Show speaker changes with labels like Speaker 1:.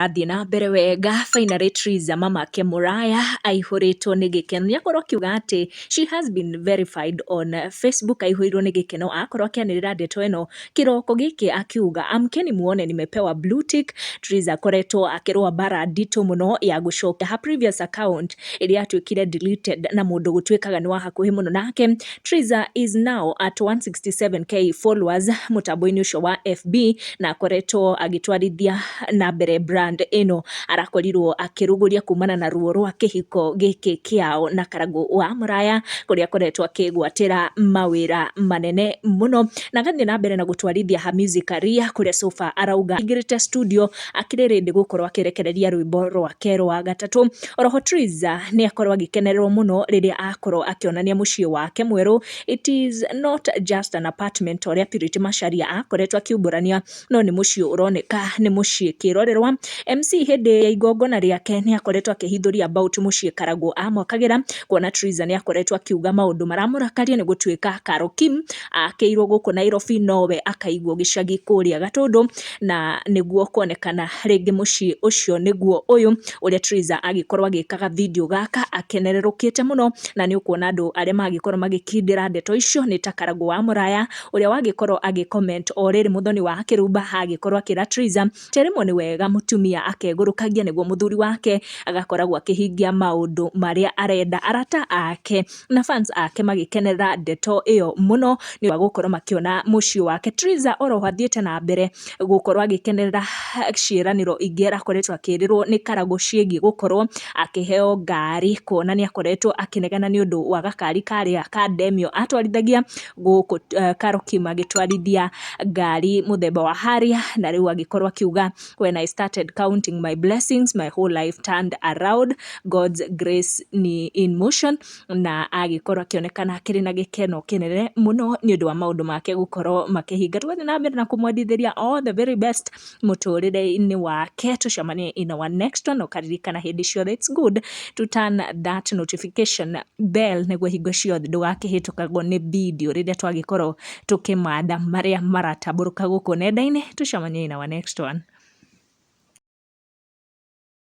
Speaker 1: Athiĩ na mbere wega finally Triza mama ake mũraya aihũrĩtwo nĩ gĩkeno nĩakorwo akiuga atĩ she has been verified on Facebook aihũirwo nĩ gĩkeno akorwo akĩanĩrĩra ndeto ĩno kĩroko gĩkĩ akiuga amkeni muone nimepewa blue tick Triza akoretwo akĩrũa mbara nditũ mũno ya gũcokia her previous account ĩrĩa yatuĩkire deleted na mũndũ gũtuĩkaga nĩ wa hakuhĩ mũno nake Triza is now at 167k followers mũtambo-inĩ ũcio wa FB na akoretwo agĩtwarithia na mbere brand ĩno arakorirwo akĩrũgũria kumana na ruo rwa kĩhiko gĩkĩ kĩao na karagũ wa mũraya kũrĩa akoretwo akĩgwatĩra mawĩra manene mũno na agathiĩ na mbere na gũtwarithia ha music career kũrĩa Sofa arauga aingĩrĩte studio akĩrĩ ready gũkorwo akĩrekereria rwĩmbo rwake rwa gatatũ. Oroho Triza nĩ akorwo agĩkenererwo mũno rĩrĩa akorwo akĩonania mũciĩ wake mwerũ. It is not just an apartment ũrĩa Purity Macharia akoretwo akiumbũrania, no nĩ mũciĩ ũroneka nĩ mũciĩ kĩrorerwa. MC hĩndĩ ya igongona rĩake nĩ akoretwo akĩhithũria about mũciĩ Karagũ amwakagĩra, kuona Triza nĩ akoretwo akiuga maũndũ maramũrakaria nĩ gũtuĩka Karo Kim akĩirwo gũkũ Nairobi nowe akaigwo gĩcagi kũrĩa Gatũndũ. na nĩguo kuonekana rĩngĩ mũciĩ ũcio nĩguo ũyũ, ũrĩa Theresa agĩkorwo agĩka ga video gaka akenerũrũkĩte mũno, na nĩ ũkuona andũ arĩa magĩkorwo magĩkindĩra ndeto icio nĩ ta Karangũ wa Mũraya, ũrĩa wagĩkorwo agĩ comment o rĩrĩ Mũthoni wa Kĩrumba agĩkorwo akĩra Theresa atĩ rĩmwe nĩ wega mũtumia akegũrũkagia nĩguo mũthuri wake agakoragwo akĩhingia maũndũ marĩa arenda. Arata ake na fans ake magĩkenerera ndeto ĩyo mũno nĩ ũndũ wa gũkorwo makĩona mũciĩ wake. Triza oro ho athiĩte na mbere gũkorwo agĩkenerera ciĩranĩro ingĩ arakoretwo akĩrĩrwo nĩ Karagũ ciĩgiĩ gũkorwo akĩheo ngari kuona nĩ akoretwo akĩnegena nĩ ũndũ wa gakari karĩa ka Demio atwarithagia gũkũ Karoki magĩtwarithia ngari mũthemba wa Harrier na rĩu agĩkorwo akiuga when I started counting my blessings my whole life turned around God's grace ni in motion na agĩkorwo akĩonekana akĩrĩ na gĩkeno kĩnene mũno nĩ ũndũ wa maũndũ make gũkorwo makĩhinga tũgathiĩ na mbere na kũmwendithĩria all the very best mũtũrĩre-inĩ wake tũcemanie in our next one ũkaririkana hĩndĩ ciothe it's good to turn that notification bell nĩguo hingo ciothe ndũgakĩhĩtũkagwo nĩ video rĩrĩa twagĩkorwo tũkĩmatha marĩa maratambũrũka gũkũ nenda-inĩ. Tũcemanie in our next one.